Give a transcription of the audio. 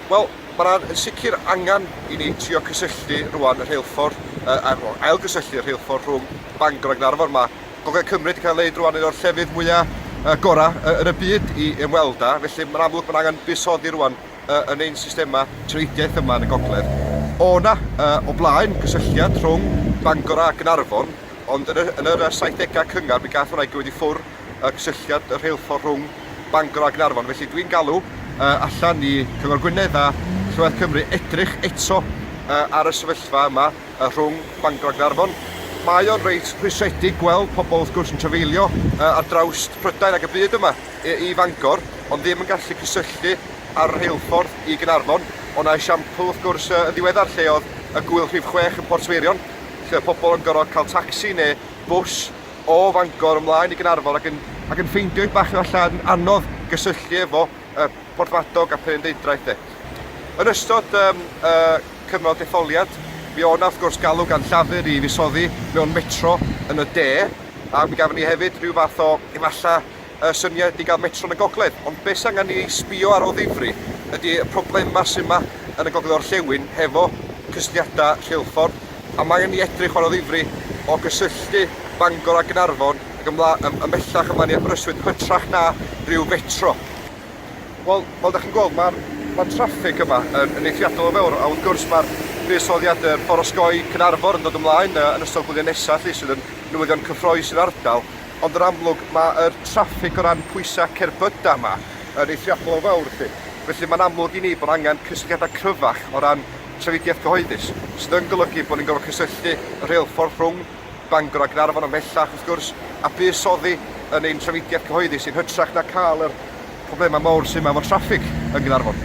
Wel, mae yna yn sicr angen i ni trio cysylltu rwan y rheilffordd, uh, ar ôl ailgysylltu y rheilffordd rhwng Bangor a Gaernarfon. Mae Gogledd Cymru wedi cael ei wneud rwan yn o'r llefydd mwyaf uh, gorau uh, yn y byd i ymweld â, felly mae'n amlwg mae'n angen buddsoddi rwan uh, yn ein systemau trefediaeth yma yn y Gogledd. O yna, uh, o blaen, cysylltiad rhwng Bangor a Gaernarfon, ond yn y, yn y 70au cyngar mi gath hwnna i gyfyd i ffwr y cysylltiad y rheilffordd rhwng Bangor a Gaernarfon. Felly dwi'n galw uh, allan i Cyngor Gwynedd a Llywodraeth Cymru edrych eto uh, ar y sefyllfa yma uh, rhwng Bangor a Gaernarfon. Mae o'n reit rhwystredig gweld pobl wrth gwrs yn trafeilio uh, ar draws Prydain ac y byd yma i, i Fangor, ond ddim yn gallu cysylltu ar y rheilffordd i Gaernarfon. O na esiampl wrth gwrs uh, yn ddiweddar lle oedd y gwyl rhif 6 yn Portfeirion, lle oedd pobl yn gorfod cael tacsi neu bws o Fangor ymlaen i Gaernarfon ac yn ac yn ffeindio ei bach efallai yn anodd gysylltu efo y Porthmadog a Phenrhyndeudraeth de. Yn ystod um, uh, cyfnod detholiad, mi o'na wrth gwrs galw gan Llafur i fusoddi mewn metro yn y de, a mi gafon ni hefyd rhyw fath o efallai y syniad i gael metro yn y gogledd, ond beth s'angen ni ei sbio ar o ddifri ydi y problemau sy' 'ma yn y gogledd orllewin hefo cysylltiadau rheilffordd, a mae angen ni edrych ar o ddifri o gysylltu Bangor a Gaernarfon ac ymlaen, ymhellach ymlaen i Aberystwyth, hytrach na rhyw fetro. Wel, fel 'da chi'n gweld, mae'r mae'r traffig yma yn yn eithriadol o fawr, a wrth gwrs mae'r buddsoddiad yr ffordd osgoi Caernarfon yn dod ymlaen yy yn ystod gwyliau nesa' 'lly sydd yn newyddion cyffrous i'r ardal. Ond yn amlwg, mae'r traffig o ran pwysau cerbydau yma yn eithriadol o fawr felly. Felly mae'n amlwg i ni bod angen cysylltiadau cryfach o ran trafnidiaeth gyhoeddus, sydd yn golygu bod ni'n gorfod cysylltu y rheilffordd rhwng Bangor a Gaernarfon ymhellach, wrth gwrs, a bys oddi yn ein trafnidiaeth cyhoeddus yn hytrach na cael yr problemau mawr sydd yma efo traffig yn Gaernarfon.